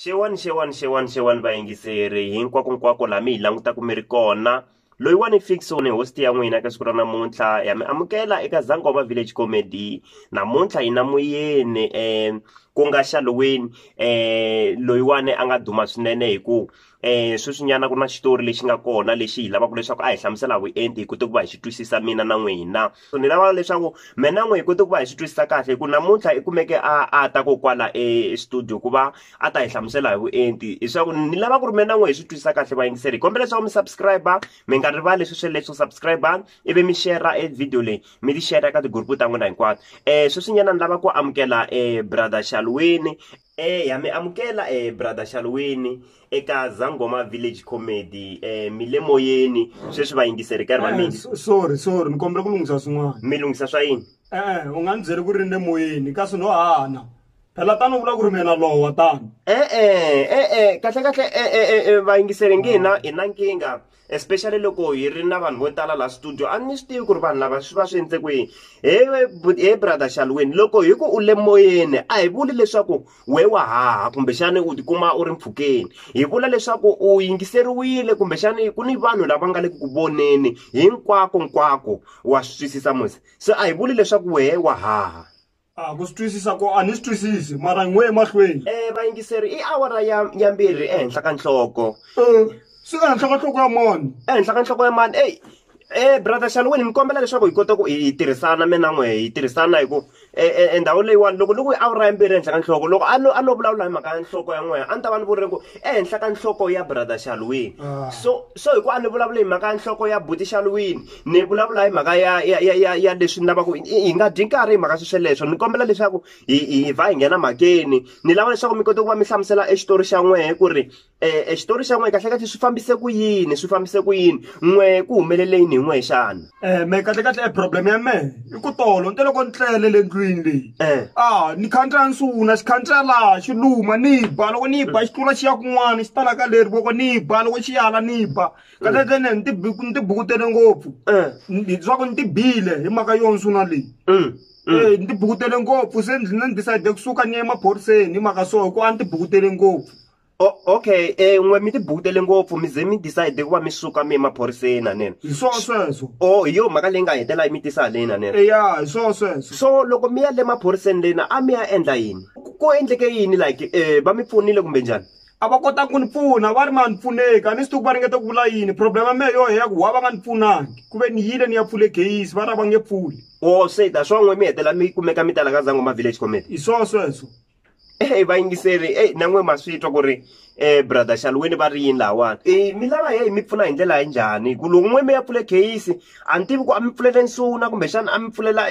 xewani xewani xewani xewani vayingiseri hinkwakonkwako laha mi hi langutaka mi ri kona loyiwani fixon host ya n'wina ka siku ra namuntlha ya mi amukela eka zangoma village comedy namuntlha hi na muyeni um ku nga xaloweni um loyiwani a nga duma swinene hi ku um sweswinyana ku na xitori lexi nga kona lexi hi lavaka leswaku a hi hlamusela vuenti hi kote ku va hi xi twisisa mina na n'wina so ni lava leswaku mina na n'we hi kote ku va hi swi twisisa kahle hi ku namuntlha i kumeke a a ta ko kwala estudio ku va a ta hi hlamusela hi vuenti leswaku ni lava ku ri mina na n'we hi swi twisisa kahle vayingiseri hi kombela leswaku mi subscribe mi nga rivali sweswe leswo subscribe ivi mi shera e video leyi mi ti shera ka tigrupu ta n'wina hinkwato um sweswinyana ni lava ku amukela um brother xalwini Eh ya mi amukela eh brother Xalweni eka Zangoma Village Comedy eh mi le moyeni sweswi va yingiseri karhi va Eh, mina so- sorry sorry ni kombela ku lunghisa swin'wana mi lunghisa swa yini e-e u nga ni byeli ku ri ni le moyeni kasi no hana phela tani u vula ku ri mina lowa tani eh eh eh eh kahle kahle eh eh eh, eh va yingiseri nge na i na nkingha especially loko hi ri na vanhu vo tala la studio a ni swi tivi ku ri vanhu lava swi va swi endle kwihi he he brother xalweni loko hi ku u le moyeni a hi vuli leswaku we wa haha kumbexani u tikuma u ri mpfhukeni hi vula leswaku u yingiseriwile kumbexani ku ni vanhu lava nga le ku ku voneni hinkwako nkwako wa swi twisisa mose se a hi vuli leswaku wehe wa haha a ku swi twisisa ko a ni swi twisisi mara n'we emahlweni um vayingiseri i awara ya ya mbirhi ehenhla ka nhloko um swi ehenhla ka nhloko ya mani ehenhla ka nhloko ya mani eyi Eh brother Shalweni ni kombela leswaku hi kota ku hi tirhisana mina n'we hi tirhisana hi ku e, e, e ndhawu leyiwani loko ni ku awura ya mbirhi ehenhla ka nhloko loko a no a no vulavula hi mhaka ya nhloko ya n'wehe a ni ta va ni vurile ku ehenhla ka nhloko ya brother Shalweni ah. so so hi ku a ni vulavule hi mhaka ya nhloko ya buti Shalweni Ni vulavula hi mhaka ya ya ya ya ya leswi ni lavaka hi nga dyi nkarhi hi mhaka swesweleswo ni kombela leswaku hi hi vha hi nghena mhakeni ni lava leswaku mi kota ku va mi hlamusela e xitori xa n'wehe ku ri e xitori xa n'wehe kahlekahle swi fambise ku yini swi fambise ku yini n'wehe ku humelele yini hi n'wehe xana me kahlekahle e problem ya mehe i ku tolo ni te loko ni tlele le ndlwini leyi a ni khandziya ni sungula xi khandziya laha xi luma ni ba loko ni ba xi tlula xi ya kun'wana xi ta la ka leri voko ni ba loko xi yala ni ba katatene ni tibuku ni tibukutele ngopfu Eh. Ni- leswaku ni tibile hi mhaka yo nsuna leyi Mm. Eh, ni tibukutele ngopfu se ndzi ni decide kusuka ni ya emaphoriseni hi mhaka so hikuva a ni tibukutele ngopfu O- okay eh n'we mi tibukutele ngopfu mi ze mi decide ku va mi suka mi emaphoriseni hanene hi swo sweswo o hi yo mhaka leyi nga hetela yi mi tisa haleni hanene eya hi swo sweswo so loko mi ya le maphoriseni lena a mi ya endla yini Ku- ku endleke yini like eh va mi pfunile kumbe njhani a va kota ku ni pfuna va ri ma ni pfuneki a ni swi tivi ku va ringeta ku vula yini problem ya mehe yo heya ku wa va nga ni pfunangi ku ve ni yile ni ya pfule geyisi va ri a va nge pfuli o se ta swa n'we mi hetela mi kumeka mi tala ka zangoma village committee hi swo sweswo ehe vayingiseri e na n'we ma swi twa ku ri um brother xalweni va ri yini lahawani e mi lava heyi mi pfuna hi ndlela yi njhani hi ku loko n'we mi ya pfule geyisi a ni tivi ku a mi pfulele nsuna kumbexana a mi pfulela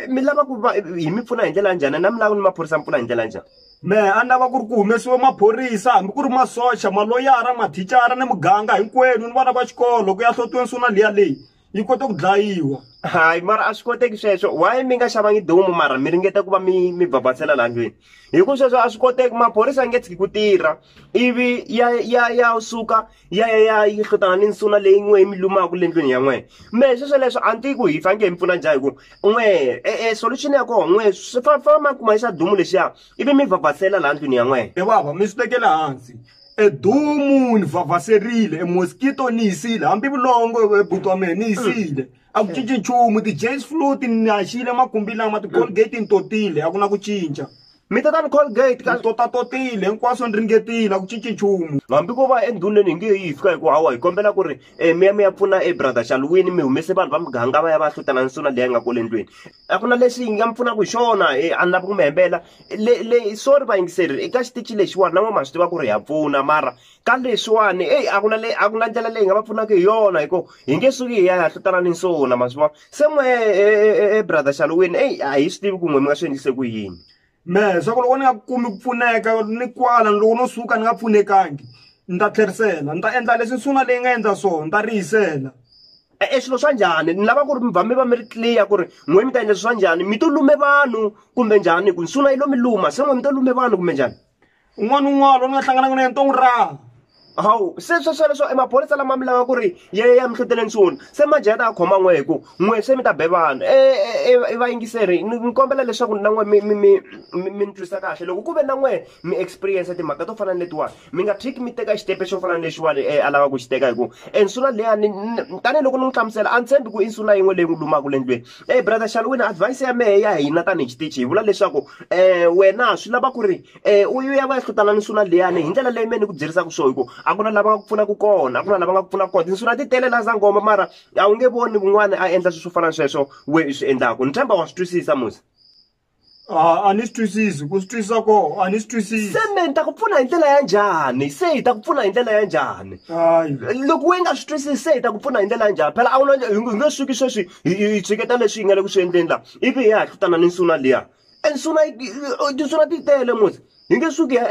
mi lava ku va hi mi pfuna hi ndlela ya njhani na mi lava ni maphorisa mi pfuna hi ndlela ya njhani mehe a ni lava ku ri ku humesiwe maphorisa hambi ku ri masocha maloyara mathicara ni muganga hinkwenu ni vana va xikolo ku ya hlotiweni suna liya leyi yi kota ku dlayiwa hayi mara a swi koteki sweswo why mi nga xavangi domu mara mi ringeta ku va mi mi bhabhatsela laha ndlwini hi ku sweswo a swi koteki maphorisa a nge tshiki ku tirha ivi ya ya ya suka ya ya ya yi hlotana ni nsuna leyi n'we yi mi lumaka le ndlwini ya n'wena me sweswoleswo a ni tiyi ku hi faneke hi mi pfuna njhani hikuva n'we e-e eh, solution ya kona n'we swi famba ma kuma xa dumu lexiya ivi mi vhavhasela laha ndlwini ya n'wena e vava mi swi tekela hansi e dumu ni vhavhaserile e mosquito ni yisile hambi vulongo e buti wa mehe ni yisile a ku cinci nchumu ti-jays flu ti naxile makumbi lama ti-colgate ni totile a ku na ku cinca mi tata ni colgate ka totatotile hinkwaswo ni ringetile a ku cinci nchumu hambi ko va endhuneni hi nge yi fika hi ku hawa hi kombela ku ri um mi ya mi ya pfuna e brother xalwini mi humese vanhu va muganga va ya va hlutana nsuna leyi nga kole ndlwini a ku na lexi yi nga mi pfunaka hi xona e a ni lavi ku mi hembela le le sorry vayingiseri eka xitichi lexiwani na n'we ma swi tiva ku ri ha pfuna mara ka leswiwani eyi a ku na a ku na ndlela leyi nga va pfunaka hi yona hi ku hi nge suki hi ya hahlutana ni nsuna ma swi vona se n'we e brother xaluwini eyi a hi swi tivi ku n'we mi nga swi endlise ku yini me swa ku loko ni nga kumi ku pfuneka ni kwala loko no suka ni nga pfunekangi ni ta tlherisela ni ta endla leswi nsuna leyi nga endla swona ni ta riyisela e swilo swa njhani ni lava ku ri mi va mi va mi ri clear ku ri n'we mi ta endla swi swa njhani mi to lume vanhu kumbe njhani hi ku nsuna yi lo mi luma se n'we mi to lume vanhu kumbe njhani un'wana un'wana loyi ni nga hlanganaka na yena to n'wi raha hawu se swesweleswo i maphorisa lama mi lava ku ri ya ya mi hluteleni swona se manjhe ya ta ya khoma n'we hi ku n'we se mi ta be vanhu i vayingiseri ni kombela leswaku na n'we mi mi mi mi mi ni twisa kahle loko ku ve na n'we mi experience timhaka to fana ni letiwani mi nga tshiki mi teka xitepe xo fana ni lexiwani a lava ku xi teka hi ku e nsuna leyani tanihiloko ni n'wi hlamusela a ni tshembi ku i nsuna yin'we leyi n'wi lumaka le ndlwini e brother xalwini advise ya mehe ya hina tanihi xitichi hi vula leswaku um wena swi lava ku ri u ya va ya hlutana ni nsuna liyani hi ndlela leyi mehe ni ku byerisaka swona hi ku a ku na lava nga ku pfunaka kona a ku na lava nga ku pfunaka kona tinsuna ti tele laha sangoma mara a wu nge voni wun'wani a endla swilo swo fana na sweswo we i swi endlaka ni tshemba wa swi twisisa musa a a ni swi twisisi ku swi twisisa ko a ni swi twisisi se me ni ta ku pfuna hi ndlela ya njhani se hi ta ku pfuna hi ndlela ya njhani loko we nga swi twisisi se hi ta ku pfuna hi ndlela ya njhani phela a wu na hi nge suki sweswi hi tshiketa leswi hi nga le ku swi endleni laha ivi hi ya hi hlutana ni nsuna liya e nsuna tinsuna ti tele mos hi nge suki hi ya .